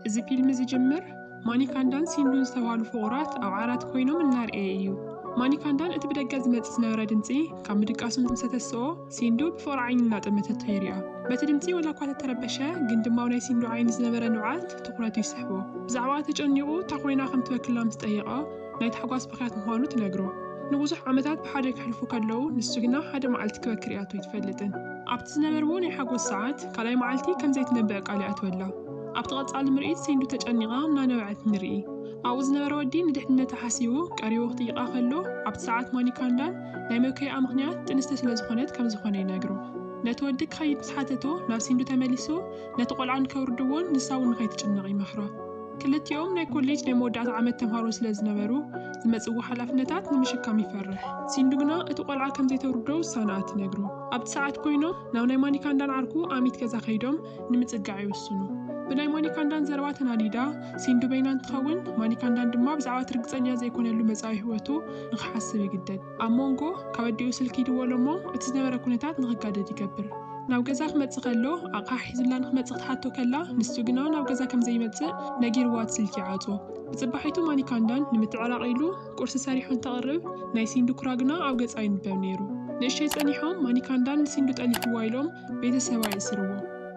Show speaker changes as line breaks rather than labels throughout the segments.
እዚ ፊልም ዝጅምር ማኒካንዳን ሲንዱን ዝተባህሉ ፍቑራት ኣብ ዓራት ኮይኖም እናርኤየ እዩ። ማኒካንዳን እቲ ብደገ ዝመጽእ ዝነበረ ድምጺ ካብ ምድቃሱ ምስ ተተስኦ፣ ሲንዱ ብፍቕሪ ዓይኒ እናጠመተቶ የሪኣ። በቲ ድምጺ ወላ እኳ ተተረበሸ፣ ግን ድማ ኣብ ናይ ሲንዱ ዓይኒ ዝነበረ ንብዓት ትኹረቱ ይስሕቦ። ብዛዕባኣ ተጨኒቑ እታ ኮይና ከም ትበክላ ምስ ጠየቐ፣ ናይ ታሕጓስ ብኽያት ምዃኑ ትነግሮ። ንብዙሕ ዓመታት ብሓደ ከሕልፉ ከለዉ፣ ንሱ ግና ሓደ መዓልቲ ክበኪ ርእያቶ ኣይትፈልጥን። ኣብቲ ዝነበርዎ ናይ ሓጎስ ሰዓት፣ ካልኣይ መዓልቲ ከም ዘይትነብዕ ቃል ይኣትወላ። ኣብቲ ቀጻሊ ምርኢት ሲንዱ ተጨኒቓ እናነበዐት ንርኢ። ኣብኡ ዝነበረ ወዲ ንድሕንነታ ሓሲቡ ቀሪቡ ክጥይቓ ከሎ፣ ኣብቲ ሰዓት ማኒካንዳን ናይ መብከይኣ ምኽንያት ጥንስቲ ስለ ዝኾነት ከም ዝኾነ ይነግሮ። ነቲ ወዲ ክኸይድ ምስ ሓተቶ፣ ናብ ሲንዱ ተመሊሱ ነቲ ቆልዓ ንከውርድዎን ንሳ'ውን ንኸይትጭነቕ ይመኽራ። ክልቲኦም ናይ ኮሌጅ ናይ መወዳእታ ዓመት ተምሃሮ ስለ ዝነበሩ፣ ዝመጽዎ ሓላፍነታት ንምሽካም ይፈርሕ። ሲንዱ ግና እቲ ቆልዓ ከም ዘይተውርዶ ውሳነኣ ትነግሮ። ኣብቲ ሰዓት ኮይኖም ናብ ናይ ማኒካንዳን ዓርኩ ኣሚት ገዛ ከይዶም ንምጽጋዕ ይውስኑ። ብናይ ማኒካንዳን ዘረባ ተናዲዳ ሲንዱ በይና እንትኸውን፣ ማኒካንዳን ድማ ብዛዕባ እቲ ርግጸኛ ዘይኮነሉ መጻኢ ህይወቱ ንኽሓስብ ይግደድ። ኣብ ሞንጎ ካብ ኣዲኡ ስልኪ ይድወሎ'ሞ እቲ ዝነበረ ኩነታት ንኽጋደድ ይገብር። ናብ ገዛ ክመጽእ ከሎ ኣቕሓ ሒዙላ ንኽመጽእ ክትሓቶ ከላ ንሱ ግና ናብ ገዛ ከም ዘይመጽእ ነጊርዋ እቲ ስልኪ ይዓጽዎ። ብጽባሒቱ ማኒካንዳን ንምትዕራቕ ኢሉ ቁርሲ ሰሪሑ እንተቕርብ ናይ ሲንዱ ኩራ ግና ኣብ ገጻ ይንበብ ነይሩ። ንእሽተይ ጸኒሖም ማኒካንዳን ንሲንዱ ጠሊፍዋ ኢሎም ቤተሰባ የእስርዎ።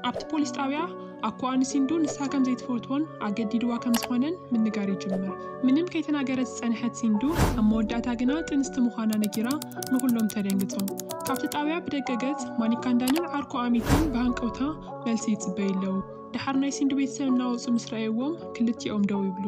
ኣብቲ ፖሊስ ጣብያ ኣኮኣ ንሲንዱ ንሳ ከም ዘይትፈትዎን ኣገዲድዋ ከም ዝኾነን ምንጋር ይጅምር። ምንም ከይተናገረት ዝጸንሐት ሲንዱ ኣብ መወዳእታ ግና ጥንስቲ ምዃና ነጊራ ንኹሎም ተደንግጾም። ካብቲ ጣብያ ብደገ ገጽ ማኒካንዳንን ዓርኩ ኣሚትን ብሃንቀውታ መልሲ ይጽበዩ ኣለዉ። ደሓር ናይ ሲንዱ ቤተሰብ እናወጹ ምስ ረኣዩዎም ክልቲኦም ደው ይብሉ።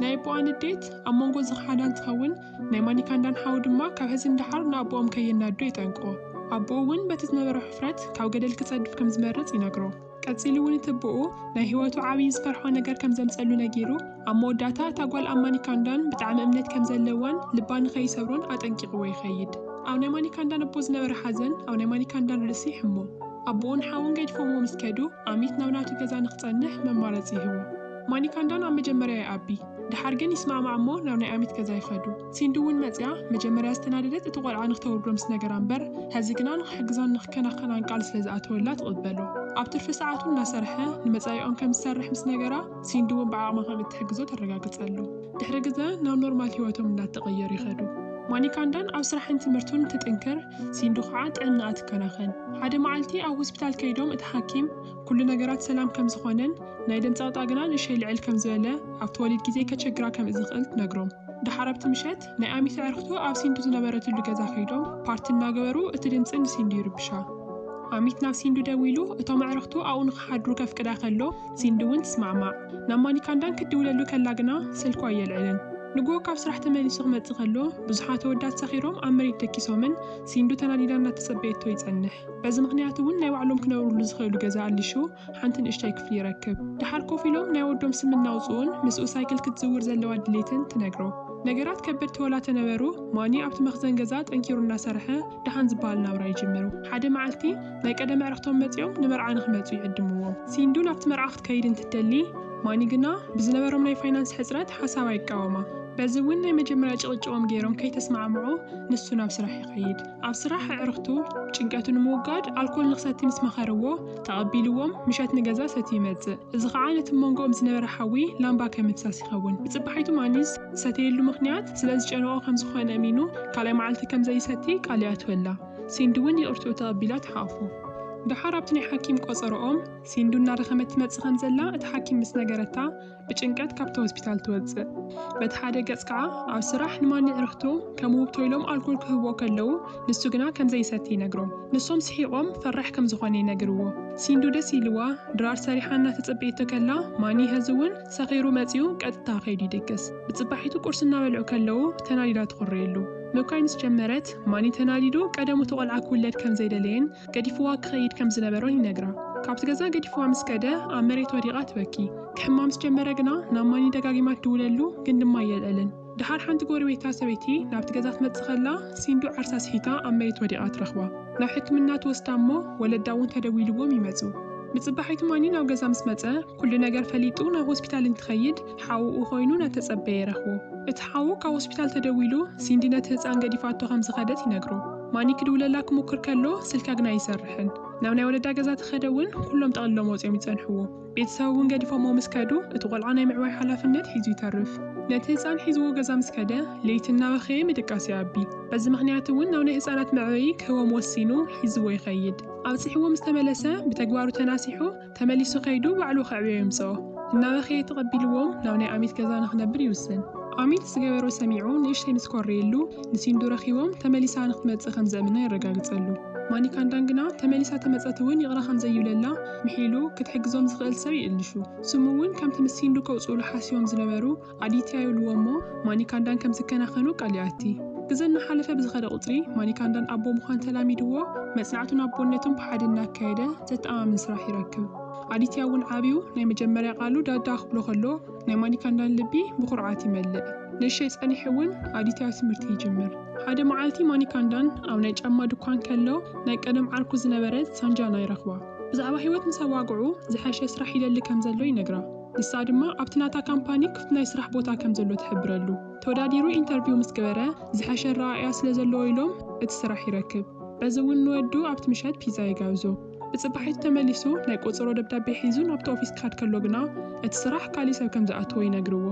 ናይ ኣቦኣ ንዴት ኣብ መንጎ ዝኸሓዳን ትኸውን። ናይ ማኒካ እንዳን ሓው ድማ ካብ ሐዚ ንደሓር ንኣቦኦም ከየናዱ የጠንቅቖ። ኣቦኡ ውን በቲ ዝነበሮ ሕፍረት ካብ ገደል ክጸድፍ ከም ዝመርጽ ይነግሮ። ቀጺሉ ውን እቲ ኣቦኡ ናይ ህይወቱ ዓብዪ ዝፈርሖ ነገር ከም ዘምጸሉ ነጊሩ ኣብ መወዳእታ እታ ጓል ኣብ ማኒካ እንዳን ብጣዕሚ እምነት ከም ዘለዋን ልባ ንኸይሰብሮን ኣጠንቂቕዎ ይኸይድ። ኣብ ናይ ማኒካ እንዳን ኣቦ ዝነበረ ሓዘን ኣብ ናይ ማኒካ እንዳን ርእሲ ይሕሞ። ኣቦኡን ሓውን ገዲፎምዎ ምስ ከዱ ኣሚት ናብ ናቱ ገዛ ንክጸንሕ መማረጺ ይህቦ። ማኒካ እንዳን ኣብ መጀመርያ ይኣቢ። ድሓር ግን ይስማዕማዕ እሞ ናብ ናይ ኣሚት ገዛ ይኸዱ። ሲንዲ እውን መጺኣ መጀመርያ ዝተናደደት እቲ ቆልዓ ንክተውርዶ ምስ ነገራ እምበር ሐዚ ግና ንክሕግዛን ንክከናኸናን ቃል ስለ ዝኣተወላ ትቕበሎ። ኣብ ትርፊ ሰዓቱ እናሰርሐ ንመጻኢኦም ከም ዝሰርሕ ምስ ነገራ ሲንዲ እውን ብዓቕማ ከም እትሕግዞ ተረጋግጸሉ። ድሕሪ ግዘ ናብ ኖርማል ህይወቶም እናተቐየሩ ይኸዱ። ማኒካንዳን ኣብ ስራሕን ትምህርቱን እንትጥንክር ሲንዲ ከዓ ጥዕናኣ ትከናኸን። ሓደ መዓልቲ ኣብ ሆስፒታል ከይዶም እቲ ሓኪም፣ ኩሉ ነገራት ሰላም ከም ዝኾነን ናይ ደም ጸቕጣ ግና ንእሸይ ልዕል ከም ዝበለ ኣብቲ ወሊድ ግዜ ከቸግራ ከም እዝኽእል ትነግሮም። ደሓር ኣብቲ ምሸት ናይ ኣሚት ኣዕርኽቱ ኣብ ሲንዱ ዝነበረትሉ ገዛ ከይዶም ፓርቲ እናገበሩ እቲ ድምጺ ንሲንዱ ይርብሻ። ኣሚት ናብ ሲንዱ ደዊሉ እቶም ኣዕርኽቱ ኣብኡ ንኽሓድሩ ከፍቅዳ ከሎ ሲንዱ እውን ትስማዕማዕ። ናብ ማኒካንዳን ክትድውለሉ ከላ ግና ስልኩ ኣየልዕልን። ንግሆ ካብ ስራሕ ተመሊሱ ክመጽእ ከሎ ብዙሓት ኣወዳት ሰኺሮም ኣብ መሬት ደቂሶምን ሲንዱ ተናዲዳ እናተጸበየቶ ይጸንሕ። በዚ ምኽንያት እውን ናይ ባዕሎም ክነብርሉ ዝኽእሉ ገዛ ኣሊሹ ሓንቲ ንእሽተይ ክፍሊ ይረክብ። ደሓር ኮፍ ኢሎም ናይ ወዶም ስም እናውጽኡን ምስኡ ሳይክል ክትዝውር ዘለዋ ድሌትን ትነግሮ። ነገራት ከበድቲ ወላ ተነበሩ ማኒ ኣብቲ መኽዘን ገዛ ጠንኪሩ እናሰርሐ ደሓን ዝበሃል ናብራ ይጅምሩ። ሓደ መዓልቲ ናይ ቀደም ኣዕርኽቶም መጺኦም ንመርዓ ንኽመጹ ይዕድምዎም። ሲንዱ ናብቲ መርዓ ክትከይድ እንትትደሊ ማኒ ግና ብዝነበሮም ናይ ፋይናንስ ሕጽረት ሓሳባ ይቃወማ። በዚ እውን ናይ መጀመርያ ጭቕጭቖም ገይሮም ከይተስማዕምዑ ንሱ ናብ ስራሕ ይኸይድ። ኣብ ስራሕ ኣዕሩኽቱ ጭንቀቱ ንምውጋድ ኣልኮል ንኽሰቲ ምስ መኸርዎ፣ ተቐቢልዎም ምሸት ንገዛ ሰትዩ ይመጽእ። እዚ ኸኣ ነቲ መንጎኦም ዝነበረ ሓዊ ላምባ ከም ምፍሳስ ይኸውን። ብጽባሒቱ ማኒዝ ዝሰተየሉ ምኽንያት ስለ ዝጨነቖ ከም ዝኾነ እሚኑ ካልኣይ መዓልቲ ከም ዘይሰቲ ቃል ይኣትወላ። ሲንዱ'ውን ይቕርትኡ ተቐቢላ ትሓቝፎ። ደሓር ኣብቲ ናይ ሓኪም ቆጸሮኦም ሲንዱ እናደኸመት ትመጽእ ከም ዘላ እቲ ሓኪም ምስ ነገረታ፣ ብጭንቀት ካብቲ ሆስፒታል ትወጽእ። በቲ ሓደ ገጽ ከኣ ኣብ ስራሕ ንማኒ ዕርኽቱ ከም ውህብቶ ኢሎም ኣልኮል ክህብዎ ከለዉ ንሱ ግና ከም ዘይሰቲ ይነግሮም። ንሶም ስሒቖም ፈራሕ ከም ዝኾነ ይነግርዎ። ሲንዱ ደስ ኢልዋ ድራር ሰሪሓ እናተጸበየቶ ከላ ማኒ ሀዚ እውን ሰኺሩ መጺኡ ቀጥታ ከይዱ ይድቅስ። ብጽባሒቱ ቁርሲ እናበልዑ ከለዉ ተናዲዳ ትኹርየሉ። ምብካይ ምስ ጀመረት ማኒ ተናዲዱ ቀደሙ'ቲ ቆልዓ ክውለድ ከም ዘይደለየን፣ ገዲፍዋ ክኸይድ ከም ዝነበሮን ይነግራ። ካብቲ ገዛ ገዲፍዋ ምስ ከደ ኣብ መሬት ወዲቓ ትበኪ። ክሕማ ምስ ጀመረ ግና ናብ ማኒ ደጋጊማ ትድውለሉ ግን ድማ ኣየልዕልን። ደሓር ሓንቲ ጎረቤታ ሰበይቲ ናብቲ ገዛ ትመጽእ ከላ ሲንዱ ዓርሳ ስሒታ ኣብ መሬት ወዲቓ ትረኽባ። ናብ ሕክምና ትወስዳ እሞ ወለዳ እውን ተደዊልዎም ይመጹ። ንጽባሒቱ ማኒ ናብ ገዛ ምስ መጸ ኩሉ ነገር ፈሊጡ ናብ ሆስፒታል እንትኸይድ፣ ሓውኡ ዀይኑ እናተጸበየ ረኽቦ። እቲ ሓው ካብ ሆስፒታል ተደዊሉ ሲንዲ ነቲ ህጻን ገዲፋቶ ከም ዝኸደት ይነግሮ። ማኒ ክድውለላ ክሙክር ከሎ ስልካ ግና ኣይሰርሕን። ናብ ናይ ወለዳ ገዛ ተኸደ እውን ኵሎም ጠቕሊሎም ወጺኦም ይጸንሕዎ። ቤተሰብ እውን ገዲፎምዎ ምስ ከዱ እቲ ቈልዓ ናይ ምዕባይ ሓላፍነት ሒዙ ይተርፍ። ነቲ ህጻን ሒዝዎ ገዛ ምስ ከደ ለይቲ እናበኸየ ምድቃስ ይኣቢ። በዚ ምኽንያት እውን ናብ ናይ ህጻናት መዕበዪ ክህቦም ወሲኑ ሒዝዎ ይኸይድ። ኣብጺሕዎ ምስ ተመለሰ ብተግባሩ ተናሲሑ ተመሊሱ ከይዱ ባዕሉ ከዕብዮ የምጽኦ። እናበኸየ ተቐቢልዎም ናብ ናይ ኣሚት ገዛ ንኽነብር ይውስን። ኣሚት ዝገበሮ ሰሚዑ ንእሽተይ ምስ ኮረየሉ፣ ንሲንዱ ረኺቦም ተመሊሳ ንኽትመጽእ ከም ዘእምና የረጋግጸሉ። ማኒካንዳን ግና ተመሊሳ ተመጸት እውን ይቕረ ከም ዘይብለላ ምሒሉ ክትሕግዞም ዝኽእል ሰብ ይእልሹ። ስሙ እውን ከምቲ ምስ ሲንዱ ከውጽኡሉ ሓሲቦም ዝነበሩ፣ ኣዲትያ ይብልዎ እሞ ማኒካንዳን ከም ዝከናኸኑ ቃል ይኣቲ። ግዘ እናሓለፈ ብዝኸደ ቁፅሪ ማኒካንዳን ኣቦ ምዃን ተላሚድዎ መፅናዕቱን ኣቦነቱን ብሓደ እናካየደ ዘተኣማምን ስራሕ ይረክብ። ኣዲትያ እውን ዓብዩ ናይ መጀመርያ ቃሉ ዳዳ ክብሎ ከሎ ናይ ማኒካንዳን ልቢ ብኹርዓት ይመልእ። ንእሸይ ፀኒሑ እውን ኣዲትያ ትምህርቲ ይጅምር። ሓደ መዓልቲ ማኒካንዳን ኣብ ናይ ጫማ ድኳን ከሎ ናይ ቀደም ዓርኩ ዝነበረት ሳንጃና ይረኽባ። ብዛዕባ ህይወት ምስ ኣዋግዑ ዝሐሸ ስራሕ ይደሊ ከም ዘሎ ይነግራ። ንሳ ድማ ኣብቲ ናታ ካምፓኒ ክፍቲ ናይ ስራሕ ቦታ ከም ዘሎ ትሕብረሉ። ተወዳዲሩ ኢንተርቪው ምስ ገበረ ዝሐሸ ኣረኣእያ ስለ ዘለዎ ኢሎም እቲ ስራሕ ይረክብ። በዚ እውን ንወዱ ኣብቲ ምሸት ፒዛ ይጋብዞ። ብፅባሒቱ ተመሊሱ ናይ ቆፀሮ ደብዳቤ ሒዙ ናብቲ ኦፊስ ክኸድ ከሎ ግና እቲ ስራሕ ካሊእ ሰብ ከም ዝኣተዎ ይነግርዎ።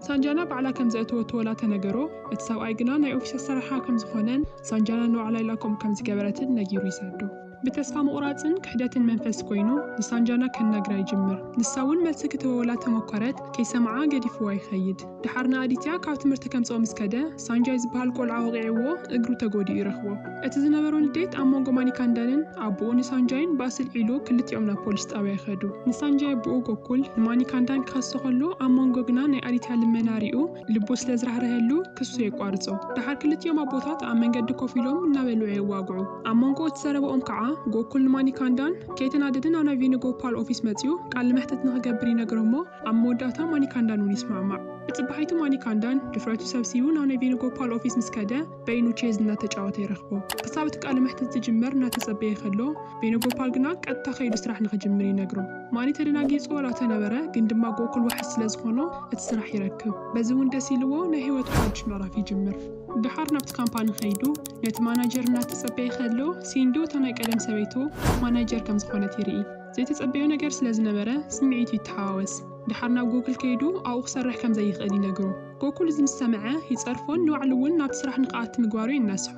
ሳንጃና ባዕላ ከም ዘእተወቶ ወላ ተነገሮ እቲ ሰብኣይ ግና ናይ ኦፊስ ኣሰራርሓ ከም ዝኾነን ሳንጃና ንባዕላ ኢላ ከምኡ ከም ዝገበረትን ነጊሩ ይሰዶ። ብተስፋ ምቑራጽን ክሕደትን መንፈስ ኮይኑ ንሳንጃና ከናግራ ይጅምር። ንሳ እውን መልሲ ክትህበውላ ተመኮረት፣ ከይሰምዓ ገዲፍዋ ይኸይድ። ደሓር ንኣዲትያ ካብ ትምህርቲ ከምጽኦ ምስ ከደ፣ ሳንጃይ ዝበሃል ቆልዓ ወቒዕዎ እግሩ ተጎዲኡ ይረኽቦ። እቲ ዝነበሮ ንዴት ኣብ መንጎ ማኒካንዳንን ኣቡኡ ንሳንጃይን ባእሲ ኣልዒሉ ክልቲኦም ናብ ፖሊስ ጣብያ ይኸዱ። ንሳንጃይ ኣቡኡ ጎኩል ንማኒካንዳን ክኸሶ ከሎ ኣብ መንጎ ግና ናይ ኣዲትያ ልመና ሪኡ፣ ልቡ ስለ ዝራህረሀሉ ክሱ የቋርጾ። ደሓር ክልቲኦም ኣቦታት ኣብ መንገዲ ኮፍ ኢሎም እናበልዑ የዋግዑ። ኣብ ሞንጎ እቲ ዘረባኦም ከኣ ጎኩል ንማኒካንዳን ከይተናደደ ናብ ናይ ቬኑጎፓል ኦፊስ መጺኡ ቃለ መሕትት ንኽገብር ይነግሮ'ሞ ኣብ መወዳእታ ማኒካንዳን እውን ይስማዕማዕ። ብጽባሒቱ ማኒካንዳን ድፍረቱ ሰብሲቡ ናብ ናይ ቬኑጎፓል ኦፊስ ምስ ከደ፣ በይኑ ቼዝ እናተጫወተ ይረኽቦ። ክሳብ እቲ ቃለ መሕትት ዝጅመር እናተጸበየ ከሎ፣ ቬኖጎፓል ግና ቀጥታ ከይዱ ስራሕ ንኽጅምር ይነግሮ። ማኒ ተደናጊጹ ዋላ ተነበረ፣ ግን ድማ ጎኩል ዋሕስ ስለ ዝኾኖ እቲ ስራሕ ይረክብ። በዚ እውን ደስ ኢልዎ ናይ ህይወቱ ሓድሽ ምዕራፍ ይጅምር። ደሓር ናብቲ ካምፓኒ ከይዱ ነቲ ማናጀር እናተጸበየ ከሎ፣ ሲንዱ እታ ናይ ቀደም ሰበይቱ ማናጀር ከም ዝኾነት ይርኢ። ዘይተጸበዮ ነገር ስለ ዝነበረ ስምዒቱ ይተሓዋወስ። ደሓር ናብ ጎኩል ከይዱ ኣብኡ ክሰርሕ ከም ዘይኽእል ይነግሮ። ጎኩል እዚ ምስ ሰምዐ ይጸርፎን ንባዕሉ እውን ናብቲ ስራሕ ንክኣቲ ምግባሩ የናስሖ።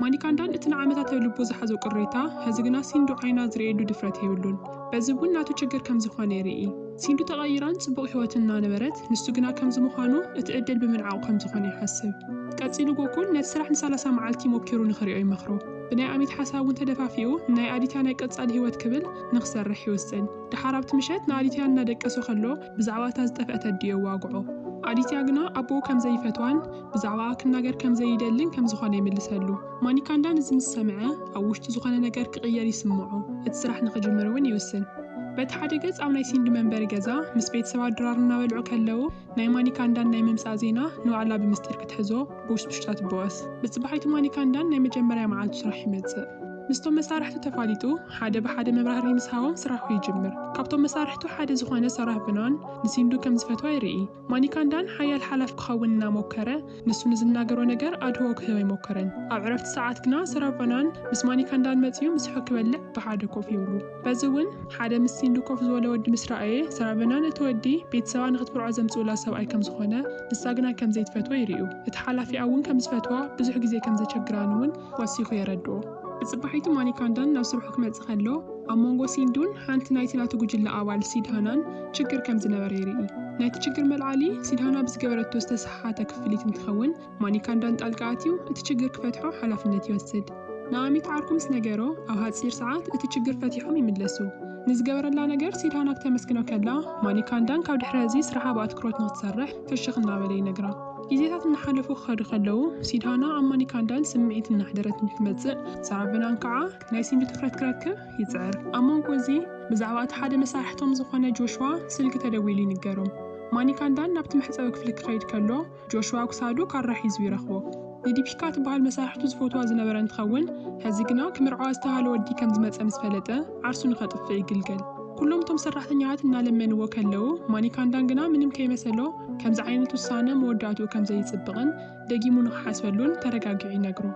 ማኒካንዳን እቲ ንዓመታት ኣብ ልቡ ዝሓዞ ቅሬታ ሐዚ ግና ሲንዱ ዓይና ዝርእየሉ ድፍረት የብሉን። በዚ እውን ናቱ ችግር ከም ዝኾነ ይርኢ። ሲንዱ ተቐይራን ጽቡቕ ህይወትን እናነበረት ንሱ ግና ከምዚ ምዃኑ እቲ ዕድል ብምንዓቑ ከም ዝኾነ ይሓስብ። ቀጺሉ ጎኩል ነቲ ስራሕ ንሳላሳ መዓልቲ ሞኪሩ ንክሪኦ ይመኽሮ። ብናይ ኣሚት ሓሳብ እውን ተደፋፊኡ ንናይ ኣዲትያ ናይ ቀጻሊ ህይወት ክብል ንክሰርሕ ይውስን። ደሓር ኣብቲ ምሸት ንኣዲትያ እናደቀሶ ከሎ ብዛዕባ እታ ዝጠፍአት ኣዲኡ የዋግዖ። ኣዲትያ ግና ኣቦኡ ከም ዘይፈትዋን ብዛዕባኣ ክናገር ከም ዘይደልን ከም ዝዀነ ይምልሰሉ። ማኒካንዳ ነዚ ምስ ሰምዐ፣ ኣብ ውሽጡ ዝዀነ ነገር ክቕየር ይስምዖ። እቲ ስራሕ ንኽጅምር እውን ይውስን። በቲ ሓደ ገጽ ኣብ ናይ ሲንዲ መንበሪ ገዛ ምስ ቤተሰባ ድራር እናበልዑ ከለዉ ናይ ማኒካንዳን ናይ ምምጻእ ዜና ንባዕላ ብምስጢር ክትሕዞ፣ ብውሽጡሽታ ትበወስ። ብጽባሒቱ ማኒካንዳን ናይ መጀመርያ መዓልቱ ስራሕ ይመጽእ። ምስቶም መሳርሕቱ ተፋሊጡ ሓደ ብሓደ መብራህርሂ ምስ ሃቦም ስራሑ ይጅምር። ካብቶም መሳርሕቱ ሓደ ዝኾነ ሰራህ ብናን ንሲንዱ ከም ዝፈትዋ ይርኢ። ማኒካንዳን ሓያል ሓላፍ ክኸውን እናሞከረ ንሱ ንዝናገሮ ነገር ኣድህኦ ክህብ ኣይሞከረን። ኣብ ዕረፍቲ ሰዓት ግና ሰራህ ቫናን ምስ ማኒካንዳን መጺኡ ምስሑ ክበልዕ ብሓደ ኮፍ ይብሉ። በዚ እውን ሓደ ምስ ሲንዱ ኮፍ ዝበለ ወዲ ምስ ረኣየ፣ ሰራቨና ነቲ ወዲ ቤተሰባ ንኽትምርዖ ዘምጽኡላ ሰብኣይ ከም ዝኾነ፣ ንሳ ግና ከም ዘይትፈትዎ ይርእዩ። እቲ ሓላፊኣ እውን ከም ዝፈትዋ፣ ብዙሕ ግዜ ከም ዘቸግራን እውን ወሲኹ የረድኦ። ብጽባሒቱ ማኒካንዳን ናብ ስርሑ ክመጽእ ከሎ፣ ኣብ መንጎ ሲንዱን ሓንቲ ናይቲ ናቱ ጉጅለ ኣባል ሲድሃናን ችግር ከም ዝነበረ ይርኢ። ናይቲ ችግር መልዓሊ፣ ሲድሃና ብዝገበረቶ ዝተሰሓሓተ ክፍሊት እንትኸውን፣ ማኒካ እንዳን ጣልቃ ኣትዩ እቲ ችግር ክፈትሖ ሓላፍነት ይወስድ። ንኣሚት ዓርኩ ምስ ነገሮ ኣብ ሃጺር ሰዓት እቲ ችግር ፈቲሖም ይምለሱ። ንዝገበረላ ነገር ሲድሃና ክተመስግኖ ከላ ማኒካ እንዳን ካብ ድሕሪ ሀዚ ስራሓ ብኣትኩሮት ንክትሰርሕ ፍሽኽ እናበለ ይነግራ። ጊዜታት እናሓለፉ ክኸዱ ከለዉ ሲድሃና ኣብ ማኒካ እንዳን ስምዒት እናሕደረት ንክትመጽእ ሳራቨናን ካዓ ናይ ሲንዲ ትኹረት ክረክብ ይጽዕር። ኣብ መንጎ እዚ ብዛዕባ እቲ ሓደ መሳርሕቶም ዝኾነ ጆሽዋ ስልኪ ተደዊሉ ይንገሮም። ማኒካ እንዳን ናብቲ መሕጸቢ ክፍሊ ክኸይድ ከሎ ጆሽዋ ክሳዱ ካራ ሒዙ ይረኽቦ። ንዲፒካ ትበሃል መሳርሕቱ ዝፈትዋ ዝነበረ እንትኸውን፣ ሕዚ ግና ክምርዓዋ ዝተብሃለ ወዲ ከም ዝመጸ ምስ ፈለጠ ዓርሱ ንኸጥፍእ ይግልገል። ኩሎም እቶም ሰራሕተኛታት እናለመንዎ ከለዉ፣ ማኒካንዳን ግና ምንም ከይመሰሎ ከምዚ ዓይነት ውሳነ መወዳእትኡ ከም ዘይጽብቕን ደጊሙ ንኽሓስበሉን ተረጋጊዑ ይነግሮ።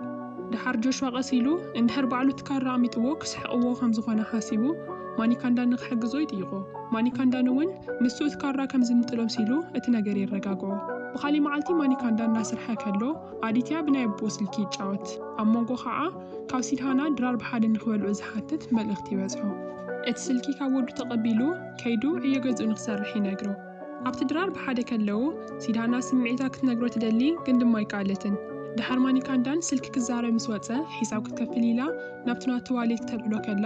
ደሓር ጆሽዋ ቀስ ኢሉ፣ እንድሕር ባዕሉ እቲ ካራ ኣሚጥዎ ክስሕቕዎ ከም ዝኾነ ሓሲቡ፣ ማኒካንዳኒ ክሕግዞ ይጥይቖ። ማኒካንዳኒ እውን ንሱ እቲ ካራ ከም ዝምጥሎም ሲሉ እቲ ነገር የረጋግዖ። ብኻሊእ መዓልቲ ማኒካንዳን እናሰርሐ ከሎ ኣዲትያ ብናይ ኣቦኡ ስልኪ ይጫወት። ኣብ ሞንጎ ካዓ ካብ ሲድሃና ድራር ብሓደ ንክበልዑ ዝሓትት መልእኽቲ ይበፅሖ። እቲ ስልኪ ካብ ወዱ ተቐቢሉ ከይዱ ዕዮ ገዝኡ ንክሰርሕ ይነግሮ። ኣብቲ ድራር ብሓደ ከለው ሲድሃና ስምዒታ ክትነግሮ ትደሊ ግን ድማ ኣይከኣለትን። ድሓር ማኒካንዳን ስልኪ ክዛረብ ምስ ወፀ ሒሳብ ክትከፍል ኢላ ናብቲ ናቱ ዋሌት ክተልዕሎ ከላ፣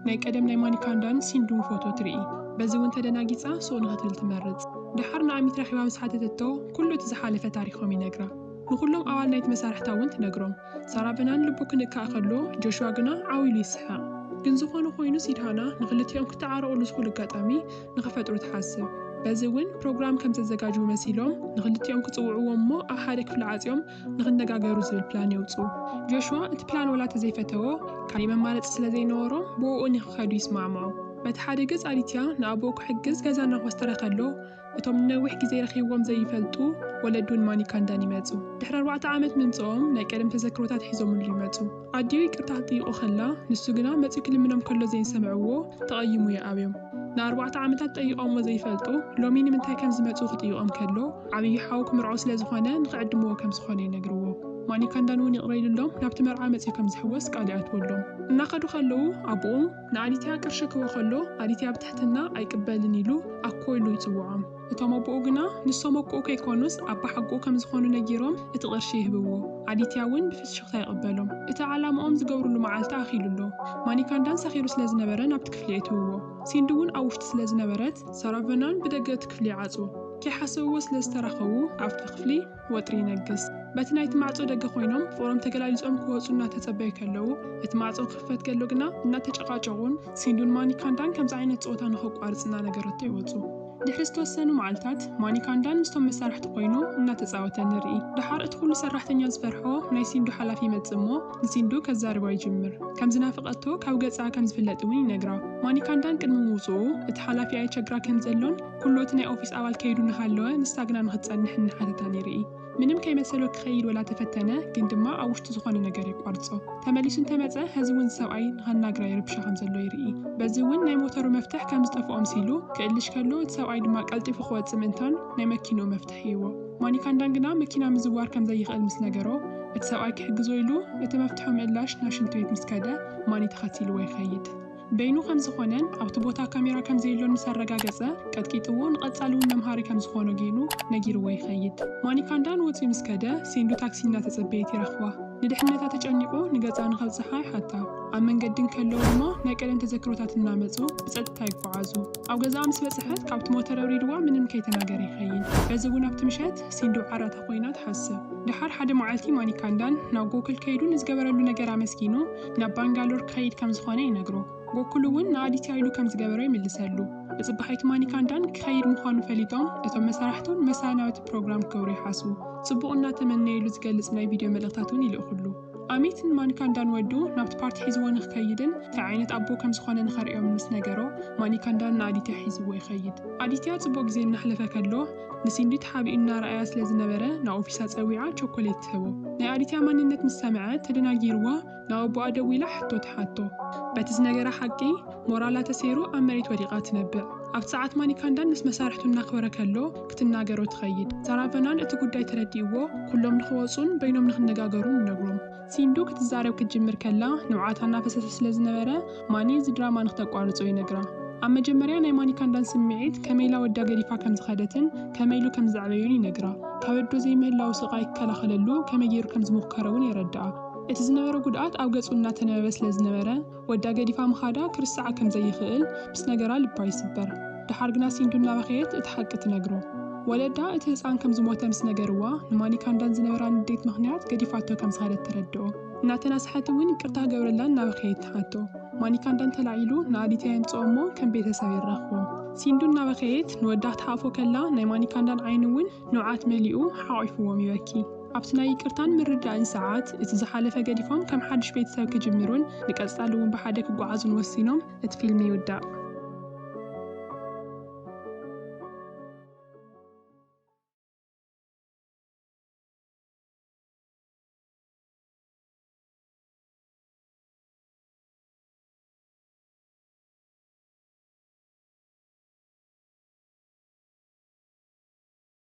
ናይ ቀደም ናይ ማኒካንዳን ሲንዱን ፎቶ ትርኢ። በዚ እውን ተደናጊጻ ሱቕ ንኽትብል ትመርጽ። ደሓር ንኣሚት ረኺባ ምስ ሓተተቶ፣ ኩሉ እቲ ዝሓለፈ ታሪኾም ይነግራ። ንኹሎም ኣባል ናይቲ መሳርሕታ እውን ትነግሮም። ሳራቨናን ልቡ ክንካእ ከሎ፣ ጆሽዋ ግና ዓው ኢሉ ይስሕቕ። ግን ዝኾነ ኾይኑ ሲድሃና ንኽልቲኦም ክተዓረቑሉ ዝኽእሉ ኣጋጣሚ ንኽፈጥሩ ትሓስብ። በዚ እውን ፕሮግራም ከም ዘዘጋጅዉ መሲሎም ንኽልቲኦም ክጽውዕዎም እሞ ኣብ ሓደ ክፍሊ ዓጽዮም ንኽነጋገሩ ዝብል ፕላን የውጽኡ። ጆሽዋ እቲ ፕላን ወላ ተዘይፈተዎ፣ ካልእ መማረጺ ስለ ዘይነበሮ ብኡኡ ንኽኸዱ ይስማዕምዑ። በቲ ሓደ ገጽ ኣዲትያ ንኣቦኡ ክሕግዝ ገዛ እናኾስተረ ከሎ፣ እቶም ንነዊሕ ግዜ ረኺብዎም ዘይፈልጡ ወለዱን ማኒካንዳን ይመጹ። ድሕሪ ኣርባዕተ ዓመት ምምጽኦም ናይ ቀደም ተዘክሮታት ሒዞምሉ ይመጹ። ኣዲኡ ይቅርታ ክትጥይቆ ከላ ንሱ ግና መጺኡ ክልምኖም ከሎ ዘይሰምዕዎ ተቀይሙ ይኣብዮም ንኣርባዕተ ዓመታት ጠይቆሞ ዘይፈልጡ ሎሚ ንምንታይ ከም ዝመጹ ክጥይቆም ከሎ ዓብዪ ሓው ክምርዖ ስለ ዝኾነ ንክዕድምዎ ከም ዝኾነ ይነግርዎ ማኒካንዳን ውን ይቅረ ኢሉሎም ናብቲ መርዓ መጺኡ ከም ዝሕወስ ቃል ይኣትወሎም እናከዱ ከለዉ ኣቡኡ ንኣዲትያ ቅርሺ ክህቦ ከሎ ኣዲትያ ብትሕትና ኣይቅበልን ኢሉ ኣኮ ኢሉ ይጽውዖም እቶም ኣቦኡ ግና ንሶም ኣቁኡ ከይኮኑስ ኣባሓጎኡ ከም ዝኾኑ ነጊሮም እቲ ቅርሺ ይህብዎ። ኣዲትያ እውን ብፍሽኽታ ይቅበሎም። እቲ ዓላምኦም ዝገብርሉ መዓልቲ ኣኺሉ ኣሎ። ማኒካንዳን ሰኺሩ ስለ ዝነበረ ናብቲ ክፍሊ የእትውዎ። ሲንዲ እውን ኣብ ውሽጢ ስለ ዝነበረት። ሰራቨናን ብደገ እቲ ክፍሊ ይዓጽዎ። ከይሓሰብዎ ስለ ዝተራኸቡ ኣብቲ ክፍሊ። ወጥሪ ይነግስ። በቲ ናይቲ ማዕጾ ደገ ኮይኖም ፍቕሮም ተገላሊጾም ክወጹ እናተጸበዩ ከለዉ፣ እቲ ማዕጾ ክኽፈት ከሎ ግና እናተጨቓጨቑን ሲንዱን ማኒካንዳን ከምዚ ዓይነት ጸወታ ንኸቋርጽ እናነገረቶ ይወጹ። ድሕሪ ዝተወሰኑ መዓልታት፣ ማኒካንዳን ምስቶም መሳርሕቱ ኮይኑ እናተጻወተ ንርኢ። ደሓር እቲ ኩሉ ሰራሕተኛ ዝፈርሖ ናይ ሲንዱ ሓላፊ ይመጽእ እሞ ንሲንዱ ከዛርባ ይጅምር። ከም ዝናፈቐቶ ካብ ገጻ ከም ዝፍለጥ እውን ይነግራ። ማኒካንዳን ቅድሚ ምውጽኡ እቲ ሓላፊ ኣየቸግራ ከም ዘሎን፣ ኩሉ እቲ ናይ ኦፊስ ኣባል ከይዱ ንሃለወ ንሳ ግና ንክትጸንሕ እንሓተታ ነይሩ እዪ። ምንም ከይመሰሎ ክኸይድ ወላ ተፈተነ ግን ድማ ኣብ ውሽጡ ዝኾነ ነገር የቋርጾ። ተመሊሱ እንተመጸ ሀዚ እውን እዚ ሰብኣይ ንኸናግራ ይርብሻ ከምዘሎ ይርኢ። በዚ እውን ናይ ሞተሩ መፍትሕ ከምዝጠፍኦ ምሲሉ ክእልሽ ከሎ እቲ ሰብኣይ ድማ ቀልጢፉ ክወጽእ ምእንታን ናይ መኪንኡ መፍትሕ ሂብዎ። ማኒካንዳን ግና መኪና ምዝዋር ከምዘይኽእል ምስ ነገሮ እቲ ሰብኣይ ክሕግዞ ኢሉ እቲ መፍትሑ ምእላሽ ናብ ሽንት ቤት ምስ ከደ ማኒ ተኸቲልዎ ይኸይድ። በይኑ ከም ዝኾነን ኣብቲ ቦታ ካሜራ ከም ዘየሎን ምስ ኣረጋገጸ፣ ቀጥቂጥዎ ንቐጻሊ እውን መምሃሪ ከም ዝኾኖ ገይሩ ነጊርዎ ይኸይድ። ማኒካንዳ ንወጺኡ ምስ ከደ፣ ሴንዱ ታክሲ እናተጸበየት ይረኽባ። ንድሕነታ ተጨኒቑ ንገጻ ንኸብጽሓ ይሓታ። ኣብ መንገዲ እንከለዉ ድማ ናይ ቀደም ተዘክሮታት እናመጹ ብጸጥታ ይጓዓዙ። ኣብ ገዛኣ ምስ በጽሐት ካብቲ ሞተር ኣውሪድዋ ምንም ከይተናገረ ይኸይድ። በዚ እውን ኣብቲ ምሸት ሴንዱ ዓራታ ኮይና ትሓስብ። ደሓር ሓደ መዓልቲ ማኒካንዳን ናብ ጎኩል ከይዱ ንዝገበረሉ ነገር ኣመስጊኑ፣ ናብ ባንጋሎር ክኸይድ ከም ዝኾነ ይነግሮ። ጎኩል እውን ንኣዲትያ ኢሉ ከም ዝገበሮ ይምልሰሉ። ብጽባሒቱ ማኒካንዳን ክኸይድ ምዃኑ ፈሊጦም እቶም መሳርሕቱን መሳኢ ናብ እቲ ፕሮግራም ክገብሩ ይሓስቡ። ጽቡቕ እናተመነዩሉ ዝገልጽ ናይ ቪድዮ መልእኽታት እውን ይልእኹሉ። ኣሚት ንማኒካንዳን ወዱ ናብቲ ፓርቲ ሒዝዎ ንክኸይድን ታይ ዓይነት ኣቦ ከም ዝኾነ ንኸርእዮምን ምስ ነገሮ ማኒካንዳን ንኣዲትያ ሒዝዎ ይኸይድ። ኣዲትያ ጽቡቕ ግዜ እናሕለፈ ከሎ፣ ንሲንዲ ተሓቢኡ እናረኣያ ስለ ዝነበረ ንኣውፊሳ ጸዊዓ ቸኮሌት ትህቦ። ናይ ኣዲትያ ማንነት ምስ ሰምዐት ተደናጊርዋ ናብ ኣቦኣ ደዊላ ሕቶ ትሓቶ። በቲ ዝነገራ ሓቂ ሞራላ ተሰይሩ ኣብ መሬት ወዲቓ ትነብዕ። ኣብቲ ሰዓት ማኒካንዳን ምስ መሳርሕቱ እናክበረ ከሎ ክትናገሮ ትኸይድ። ሳራቨናን እቲ ጉዳይ ተረዲእዎ ኩሎም ንክወጹን በይኖም ንክነጋገሩን ይነግሮም። ሲንዱ ክትዛረብ ክትጅምር ከላ ንብዓታ እናፈሰሰ ስለ ዝነበረ ማኒ እዚ ድራማ ንክተቋርጾ ይነግራ። ኣብ መጀመርያ ናይ ማኒካንዳን ስምዒት ከመይ ኢላ ወዳ ገዲፋ ከም ዝኸደትን ከመይ ኢሉ ከም ዘዕበዮን ይነግራ። ካብ ኣዶ ዘይምህላዉ ስቓይ ክከላኸለሉ ከመይ ገይሩ ከም ዝሞከረ'ውን የረድኣ። እቲ ዝነበሮ ጉድኣት ኣብ ገጹ እናተነበበ ስለ ዝነበረ፣ ወዳ ገዲፋ ምኻዳ ክርስዓ ከም ዘይኽእል ምስ ነገራ ልባ ይስበር። ደሓር ግና ሲንዱ እናበኸየት እቲ ሓቂ ትነግሮ። ወለዳ እቲ ህጻን ከም ዝሞተ ምስ ነገርዋ ንማኒካንዳን ዝነበራ ንዴት ምኽንያት ገዲፋቶ ከም ዝኸደት ተረድኦ። እናተናስሐት እውን ይቅርታ ክገብረላ እናበኸየት ትሓቶ። ማኒካንዳን ተላዒሉ ንኣዲትያ የምጽኦ እሞ ከም ቤተሰብ የራኽቦም። ሲንዱ እናበኸየት ንወዳ ክትሓቕፎ ከላ ናይ ማኒካንዳን ዓይኒ እውን ንብዓት መሊኡ ሓቚፉዎም ይበኪ። ኣብቲ ናይ ይቅርታን ምርድዳእን ሰዓት፣ እቲ ዝሓለፈ ገዲፎም ከም ሓድሽ ቤተሰብ ክጅምሩን ንቀጻሊ እውን ብሓደ ክጓዓዙን ወሲኖም፣ እቲ ፊልም ይውዳእ።